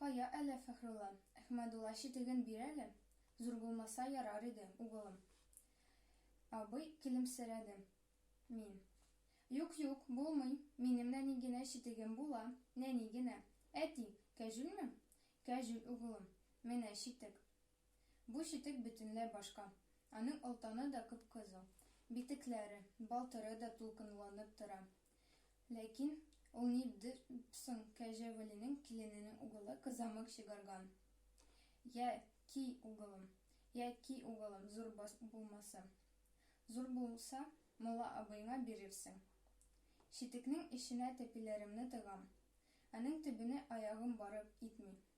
Кая әле, Фәхрулла, Әхмәдулла читеген бир әле, зур булмаса ярар иде, угылым. Абый көлемсерәде. Мин. Юк, юк, булмый, минем нәни генә читегем була, нәни генә. Әти, кәҗүлме? Кәҗүл, угылым. Менә читек. Бу читек бөтенләй башка. Аның олтаны да кып-кызыл, битекләре, балтыры да дулкынланып тора. Ләкин ул ни д соң, Кәҗә Вәлинең килененең угылы кызамык чыгарган. Йә, ки, угылым, йә, ки, угылым, зур бас булмасы. Зур булса, мулла абыеңа бирерсең. Читекнең эченә тәпиләремне тыгам. Аның төбенә аягым барып итми.